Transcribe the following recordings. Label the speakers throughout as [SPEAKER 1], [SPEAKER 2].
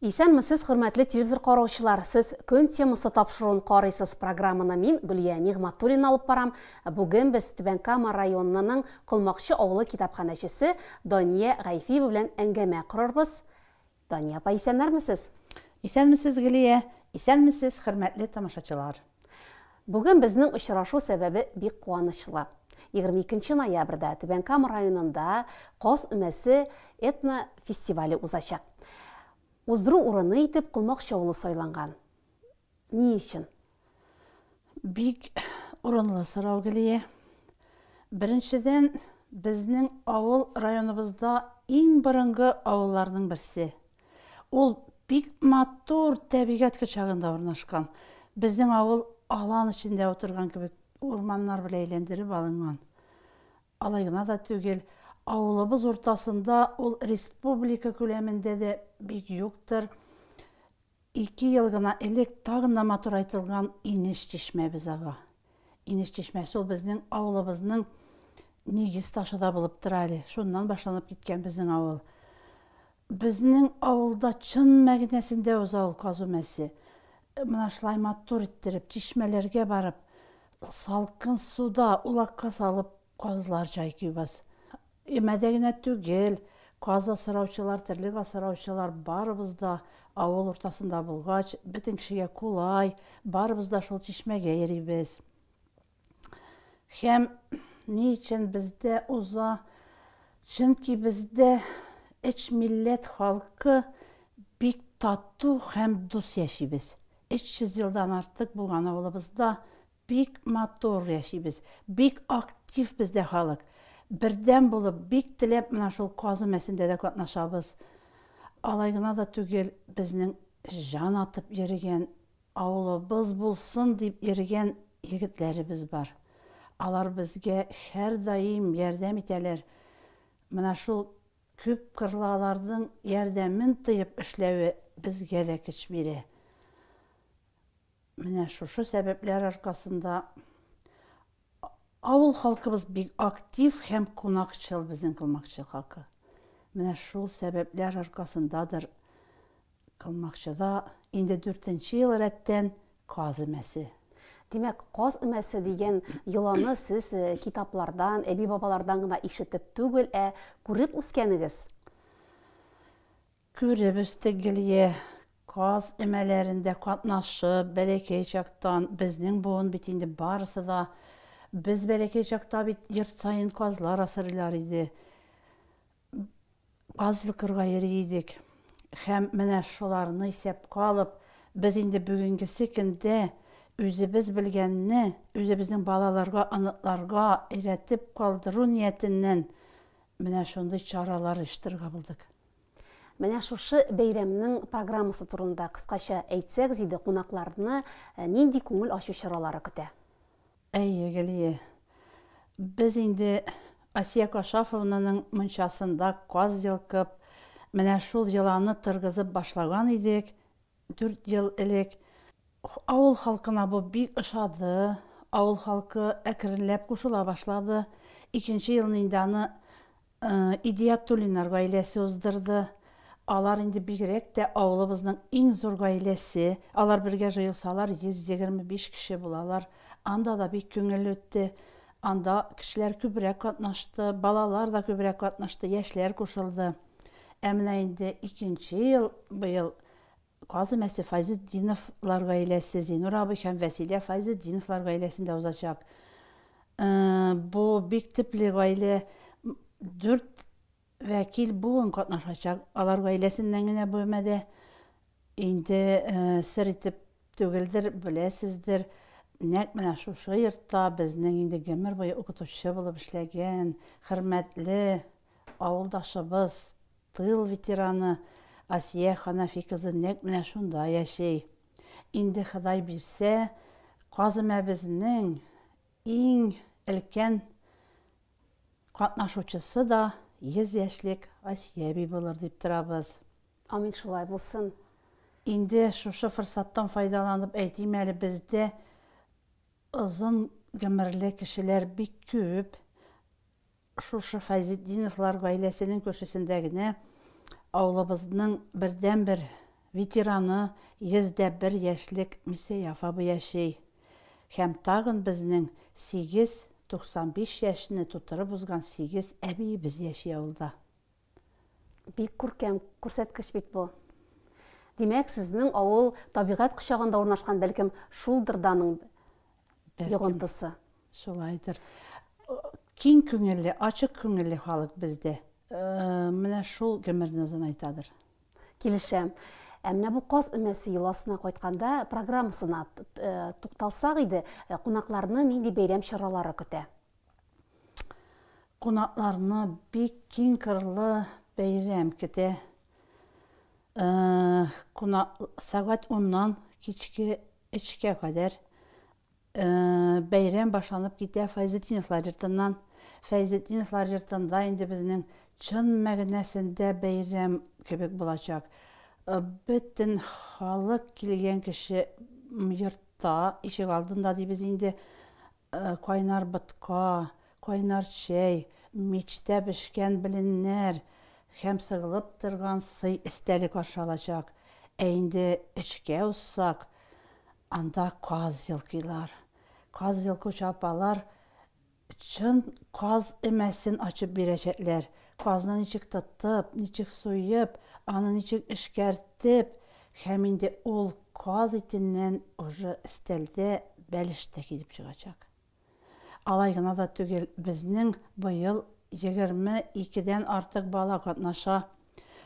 [SPEAKER 1] Исәнмесез, хөрмәтле телевизор караучылар. Сез көн темасы тапшыруын карыйсыз. Программаны мин Гөлия Нигматуллина алып барам. Бүген без Түбән Кама районының Колмакчы авылы китапханәчесе Дания Гайфиева белән әңгәмә корырбыз. Дания апа исәннәрмесез? Исәнмесез
[SPEAKER 2] Гөлия, исәнмесез хөрмәтле тамашачылар. Бүген
[SPEAKER 1] безнең очрашу сәбәбе бик куанычлы. 22 ноябрьдә Түбән Кама районында Каз өмәсе этно фестивале узачак. Уздыру урыны итеп Колмак Чаулы сайланган. Ни өчен?
[SPEAKER 2] Бик урынлы сорау, Гөлия. Беренчедән, безнең авыл районыбызда иң борынгы авылларның берсе. Ул бик матур тәбигать кочагында урнашкан. Безнең авыл алан эчендә утырган кебек урманнар белән әйләндереп алынган. Алай гына да түгел, авылыбыз уртасында ул республика күләмендә дә бик юктыр. Ике ел гына элек тагын да матурайтылган инеш чишмәбез ага. Инеш чишмәсе ул безнең авылыбызның нигез ташы да булып тора әле. Шуннан башланып киткән безнең авыл. Безнең авылда чын мәгънәсендә уза ул казу мәсе. Менә шулай матур иттереп, чишмәләргә барып, салкын суда улакка салып Казлар чайкыйбыз. Өмәдә генә түгел, каз асраучылар, терлек асраучылар, барыбыз да авыл уртасында булгач, бөтен кешегә кулай, барыбыз да шул чишмәгә йөрибез. Һәм ни өчен бездә уза? Чөнки бездә өч милләт халкы бик тату һәм дус яшибез. 300 елдан артык булган авылыбызда Бик матур яшибез, бик актив бездә халык. Бердәм булып, бик теләп менә шул казы мәсендә дә катнашабыз. Алай гына да түгел, безнең җан атып йөрегән, авылыбыз булсын дип йөрегән егетләребез бар. Алар безгә һәрдаим ярдәм итәләр. Менә шул күпкырлы аларның ярдәмен тоеп эшләве безгә дә көч бирә. Менә шушы сәбәпләр аркасында авыл халкыбыз бик актив һәм кунакчыл безнең Кылмакчы халкы. Менә шул сәбәпләр аркасындадыр Кылмакчыда инде дүртенче ел рәттән каз өмәсе. Димәк, каз
[SPEAKER 1] өмәсе дигән йоланы сез э, китаплардан, әби-бабалардан гына ишетеп түгел, ә күреп үскәнегез?
[SPEAKER 2] Күреп үстек Гөлия. Каз өмәләрендә катнашып, бәләкәй чактан, безнең буын бит инде барысы да, без бәләкәй чакта бит йорт саен казлар асрыйлар иде, каз йолкырга йөри идек. Һәм менә шуларны исәпкә алып, без инде бүгенгесе көндә үзебез белгәнне үзебезнең балаларга, оныкларга өйрәтеп калдыру ниятеннән менә шундый чаралар оештырырга булдык. Менә
[SPEAKER 1] шушы бәйрәмнең программасы турында кыскача әйтсәгез иде, кунакларны нинди күңел ачу чаралары көтә? Әйе,
[SPEAKER 2] Гөлия. Без инде Асия Кашафовнаның мунчасында каз йолкып, менә шул йоланы торгызып башлаган идек, Дүрт ел элек авыл халкына бу бик ошады. Авыл халкы әкренләп кушыла башлады. Икенче елны инде аны Идиятуллиннар гаиләсе уздырды. Алар инде бигрәк тә авылыбызның иң зур гаиләсе. Алар бергә җыелсалар, 125 кеше булалар. Анда да бик күңелле үтте. Анда кешеләр күбрәк катнашты, балалар да күбрәк катнашты, яшьләр кушылды. Ә менә инде икенче ел быел Казы мәсе Файзетдиновлар гаиләсе, Зинур абый һәм Вәсилә Файзетдиновлар гаиләсендә узачак. Э, бу бик типле гаилә. Дүрт вәкил буын катнашачак. Алар гаиләсеннән генә бүлмәдә инде э, сер итеп түгелдер, беләсездер. Нәкъ менә шушы йортта безнең инде гомер буе укытучы булып эшләгән, хөрмәтле Авылдашыбыз, тыл ветераны Асия Ханафи кызы нәкъ менә шунда яши. Инде Ходай бирсә, каземәбезнең иң өлкән катнашучысы да 100 яшьлек Асия әби булыр дип торабыз. Амин, шулай
[SPEAKER 1] булсын. Инде
[SPEAKER 2] шушы форсаттан файдаланып әйтим әле, бездә озын гомерле кешеләр бик күп. Шушы Фәйзетдиновлар гаиләсенең күршесендә генә авылыбызның бердәнбер ветераны, 101 яшьлек Мисәй Афабы яши һәм тагын безнең сигез 95 яшьне тутырып узган сигез әбиебез яши авылда.
[SPEAKER 1] Бик күркәм күрсәткеч бит бу. Димәк, сезнең авыл табигать кочагында урнашкан, бәлкем, шулдыр да аның йогынтысы. Шулайдыр.
[SPEAKER 2] Киң күңелле, ачык күңелле халык бездә. Э, менә шул гомерназын айтадыр. Килешәм.
[SPEAKER 1] Ә менә бу каз өмәсе йоласына кайтканда программасына э, тукталсак иде, э, кунакларны нинди бәйрәм чаралары көтә?
[SPEAKER 2] Кунакларны бик киң кырлы бәйрәм көтә. Кунак сәгать уннан кичке өчкә кадәр бәйрәм башланып китә Файзетдиновлар йортыннан. Фәйзетдиновлар йортында инде безнең чын мәгънәсендә бәйрәм кебек булачак. Бөтен халык килгән кеше йортта, ишек алдында дибез инде. Кайнар ботка, кайнар чәй, мичтә пешкән беленнәр һәм сыгылып торган сый эстәлек ашы алачак. Ә инде эчкә узсак, анда каз елкыйлар. Каз елкучы апалар чын каз өмәсен ачып бирәчәкләр, Казны ничек тотып, ничек суеп, аны ничек эшкәртеп, һәм инде ул каз итеннән уже өстәлдә бәлеш тә килеп чыгачак. Алай гына да түгел, безнең быел егерме икедән артык бала катнаша.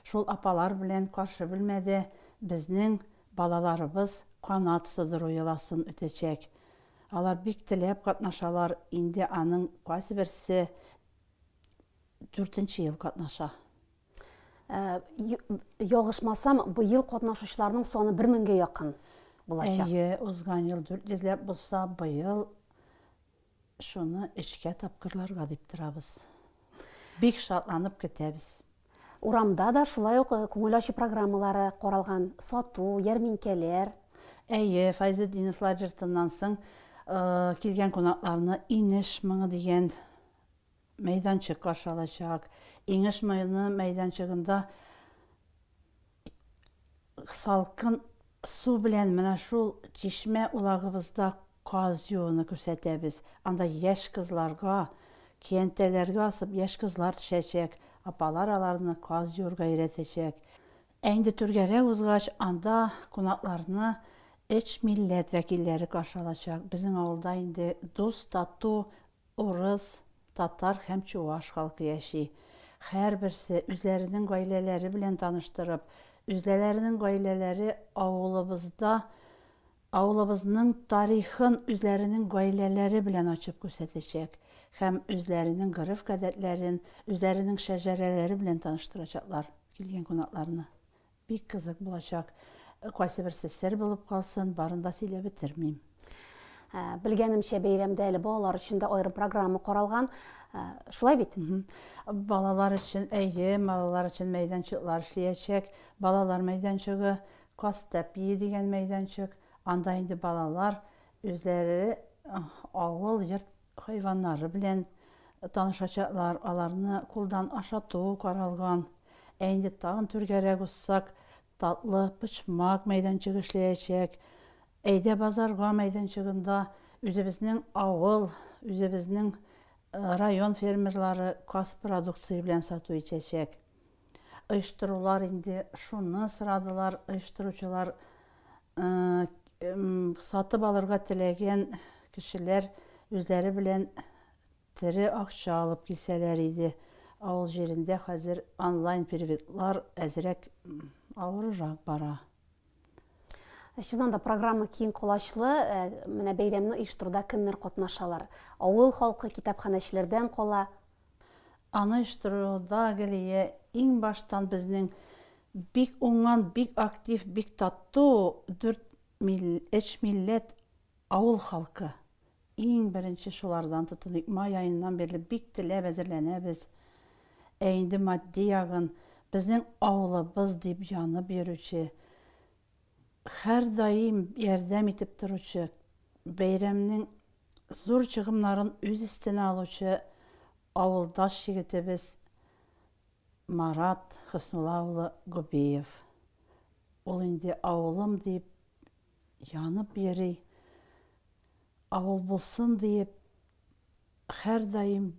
[SPEAKER 2] Шул апалар белән каршы бүлмәдә безнең балаларыбыз канат сыдыру йоласын үтәчәк. Алар бик теләп катнашалар, инде аның кайсыберсе дүртенче ел катнаша. Ә,
[SPEAKER 1] ялгышмасам, быел катнашучыларның саны бер меңгә якын булачак. Әйе, узган ел
[SPEAKER 2] дүрт йөзләп булса, быел шуны өчкә тапкырларга дип торабыз. Бик шатланып көтәбез. Урамда
[SPEAKER 1] да шулай ук э, күңел ачу программалары каралган, сату, ярминкәләр. Әйе,
[SPEAKER 2] Файзетдинов лагертыннан соң э, килгән кунакларны Инеш моңы дигән мәйданчык каршы алачак. Инеш моны мәйданчыгында салкын су белән менә шул чишмә улагыбызда каз юуны күрсәтәбез. Анда яшь кызларга, көянтәләргә асып, яшь кызлар төшәчәк, апалар аларны каз юырга өйрәтәчәк. Ә инде түргәрәк узгач, анда кунакларны өч милләт вәкилләре каршы алачак. Безнең авылда инде дус-тату Урыс, татар һәм чуваш халкы яши. Һәрберсе, үзләренең гаиләләре белән таныштырып, үзләләренең гаиләләре авылыбызда, авылыбызның тарихын үзләренең гаиләләре белән ачып күрсәтәчәк һәм үзләренең гореф-гадәтләрен, үзләренең шәҗәрәләре белән таныштырачаклар килгән кунакларны. Бик кызык булачак. Кайсыберсе сер булып калсын, барын да сөйләп бетермим.
[SPEAKER 1] Белгәнемчә, бәйрәмдә әле балалар өчен дә аерым программа каралган. Шулай бит? Балалар
[SPEAKER 2] өчен, әйе, балалар өчен мәйданчыклар эшлиячәк. Балалар мәйданчыгы, Кастәпие дигән мәйданчык. Анда инде балалар үзләре авыл, йорт хайваннары белән танышачаклар, аларны кулдан ашату каралган. Ә инде тагын түргәрәк узсак, татлы почмак мәйданчыгы эшләячәк. Әйдә базарга мәйданчыгында үзебезнең авыл, үзебезнең район фермерлары каз продукция белән сату итәчәк. оештырулар инде шуны сорадылар оештыручылар сатып алырга теләгән кешеләр үзләре белән тере акча алып килсәләр иде авыл җирендә хәзер онлайн переводлар әзрәк авырырак бара
[SPEAKER 1] Чыннан да программа киң колачлы. Э, менә бәйрәмне оештыруда кемнәр катнашалар? Авыл халкы, китапханәчеләрдән кала. Аны
[SPEAKER 2] оештыруда Галия иң баштан безнең бик уңган, бик актив, бик тату дүрт мил, өч милләт авыл халкы. Иң беренче шулардан тотыныйк. Май аеннан бирле бик теләп әзерләнәбез. Ә инде матди ягын, безнең авылыбыз дип янып йөрүче, һәрдаим ярдәм итеп торучы, бәйрәмнең зур чыгымнарын үз өстенә алучы авылдаш егетебез Марат Хөснулла улы Губиев. Ул инде авылым дип Янып йөри. Авыл булсын диеп, һәрдаим,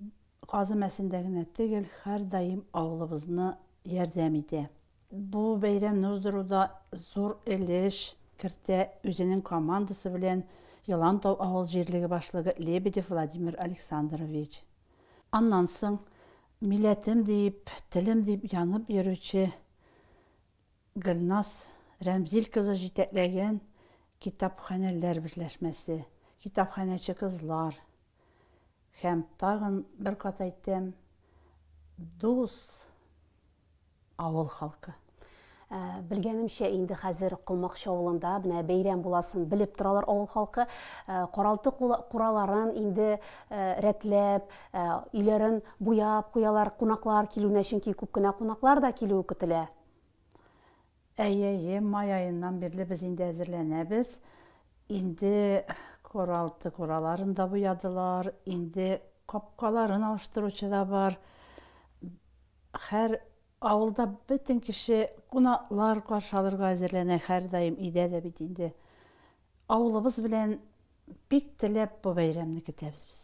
[SPEAKER 2] Казы Мәсендә генә тегел, һәрдаим авылыбызны ярдәм итә. Бу бәйрәмне уздыруда зур өлеш кертә үзенең командасы белән Елантау авыл җирлеге башлыгы Лебедев Владимир Александрович. Аннан соң милләтем диеп, телем диеп янып йөрүче Гөлназ Рәмзил кызы җитәкләгән китапханәләр берләшмәсе, Китапханәче кызлар һәм, тагын бер кат әйтәм, Дус авыл халкы.
[SPEAKER 1] Белгәнемчә, инде хәзер Колмакчы авылында менә бәйрәм буласын белеп торалар авыл халкы. Каралты кураларын инде рәтләп, Ә өйләрен буяп куялар кунаклар килүенә, чөнки күп кенә кунаклар да килүе көтелә. Әйе, әйе,
[SPEAKER 2] май аеннан бирле без инде әзерләнәбез. Инде куралты кураларын да буядылар, инде капкаларын алыштыручы да бар. Һәр авылда бөтен кеше кунаклар каршы алырга әзерләнә һәрдаим, өйдә дә бит инде Авылыбыз белән бик теләп бу бәйрәмне көтәбез без.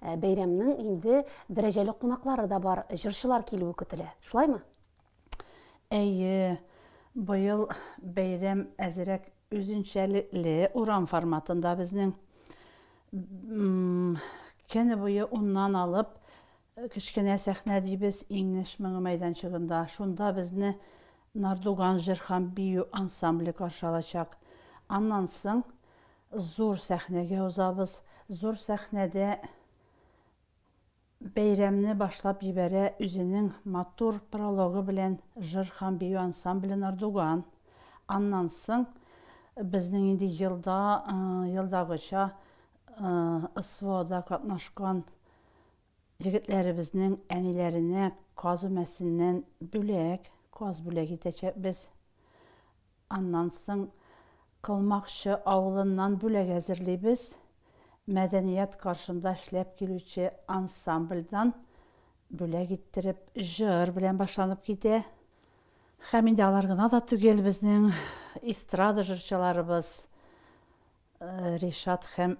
[SPEAKER 2] Ә, бәйрәмнең
[SPEAKER 1] инде дәрәҗәле кунаклары да бар, җырчылар килүе көтелә. Шулаймы?
[SPEAKER 2] Әйе, быел бәйрәм әзерәк үзенчәлекле урам форматында безнең. М, Көне буе уннан алып Кечкенә сәхнә дибез Иңнеш моңы мәйданчыгында. Шунда безне Нардуган җыр һәм бию ансамбле каршы алачак. Аннан соң зур сәхнәгә узабыз. Зур сәхнәдә бәйрәмне башлап җибәрә үзенең матур прологы белән җыр һәм бию ансамбле Нардуган. Аннан соң безнең инде елда, елдагыча СВОда катнашкан Егетләребезнең әниләренә каз өмәсеннән бүләк, каз бүләк итәчәкбез. Аннан соң Кылмакчы авылыннан бүләк әзерлибез. Мәдәният каршында эшләп килүче ансамбльдан бүләк иттереп, җыр белән башланып китә. Һәм инде алар гына да түгел, безнең эстрада җырчыларыбыз Ришат һәм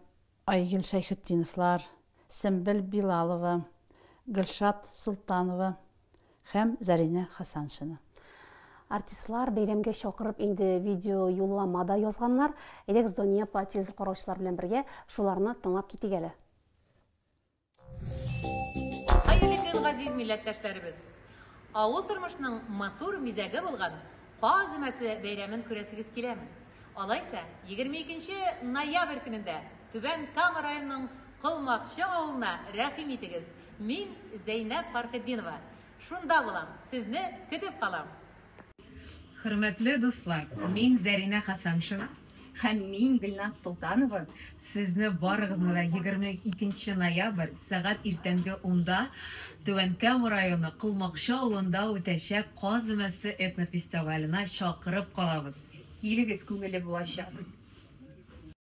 [SPEAKER 2] Айгөл Шәйхетдиновлар, Сембел Билалова, Гөлшат Солтанова һәм Зәринә Хасаншина. Артистлар
[SPEAKER 1] бәйрәмгә чакырып инде видео юллама да язганнар. Әйдәгез, Дания апа, телевизор караучылар белән бергә шуларны тыңлап китик әле.
[SPEAKER 3] Хәерле көн, газиз милләттәшләребез! Авыл тормышының матур мизәге булган Каз өмәсе бәйрәмен күрәсегез киләме? Алайса, 22 нче ноябрь көнендә Түбән Кама районының Колмакчы авылына рәхим итегез, мин Зәйнәб Фархетдинова шунда булам, сезне көтеп калам!
[SPEAKER 4] Хөрмәтле дуслар, мин Зәринә Хәсәншина. Һәм мин Гөлназ Солтанова. Сезне барыгызны да 22 нче ноябрь, сәгать иртәнге унда Түбән Кама районы Колмакчы авылында үтәчәк Каз өмәсе этнофестиваленә чакырып калабыз. Килегез, күңелле булачак!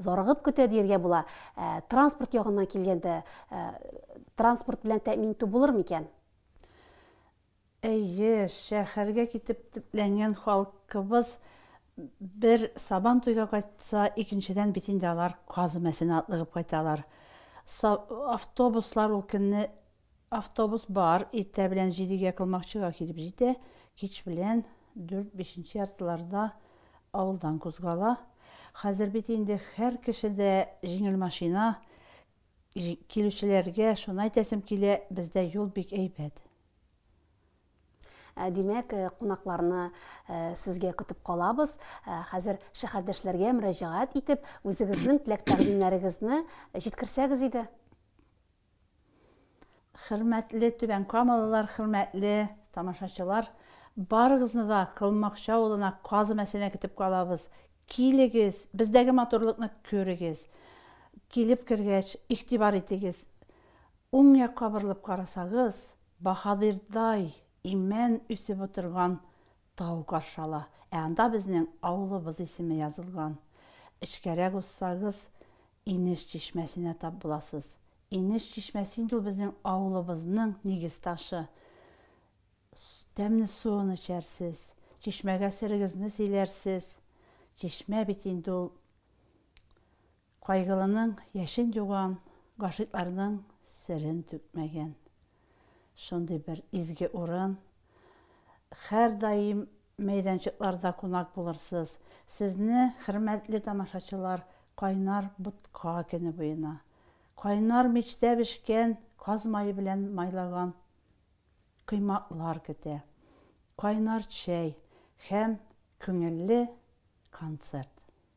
[SPEAKER 1] Зарыгып көтә диергә була. Ә транспорт ягыннан килгәндә, транспорт белән тәэмин итү булыр микән? Әйе,
[SPEAKER 2] шәһәргә китеп төпләнгән халкыбыз бер Сабан туйга кайтса, икенчедән бит инде алар Каз өмәсенә атлыгып кайталар. Автобуслар ул көнне Автобус бар, иртә белән җидегә Кылмакчыга килеп җитә, кич белән дүрт, бишенче яртыларда авылдан кузгала. Хәзер бит инде һәр кеше дә җиңел машина, килүчеләргә шуны әйтәсем килә, бездә юл бик әйбәт. Ә
[SPEAKER 1] димәк, кунакларны сезгә көтеп калабыз. Хәзер шәһәрдәшләргә мөрәҗәгать итеп, үзегезнең теләк-тәкъдимнәрегезне җиткерсәгез иде.
[SPEAKER 2] Хөрмәтле Түбән Камалылар, хөрмәтле тамашачылар, барыгызны да Кылмакчы авылына Казы Мәсенә көтеп калабыз. Килегез, бездәге матурлыкны күрегез. Килеп кергәч, игътибар итегез, уң якка борылып карасагыз, баһадирдай имән үсеп утырган Тау каршы ала. Ә анда безнең авылыбыз исеме язылган. Эчкәрәк узсагыз, Инеш чишмәсенә тап буласыз. Инеш чишмәсе инде ул безнең авылыбызның нигез ташы. Тәмле суын эчәрсез, чишмәгә серегезне сөйләрсез. Чишмә бит инде ул Кайгылының яшен юган, гашыйкларның серен түкмәгән. Шундый бер изге урын. Хәрдаим мәйданчыкларда кунак булырсыз. Сезне, хөрмәтле тамашачылар, кайнар ботка көне буена, кайнар мичтә бешкән каз мае белән майлаган коймаклар көтә, кайнар чәй һәм күңелле концерт.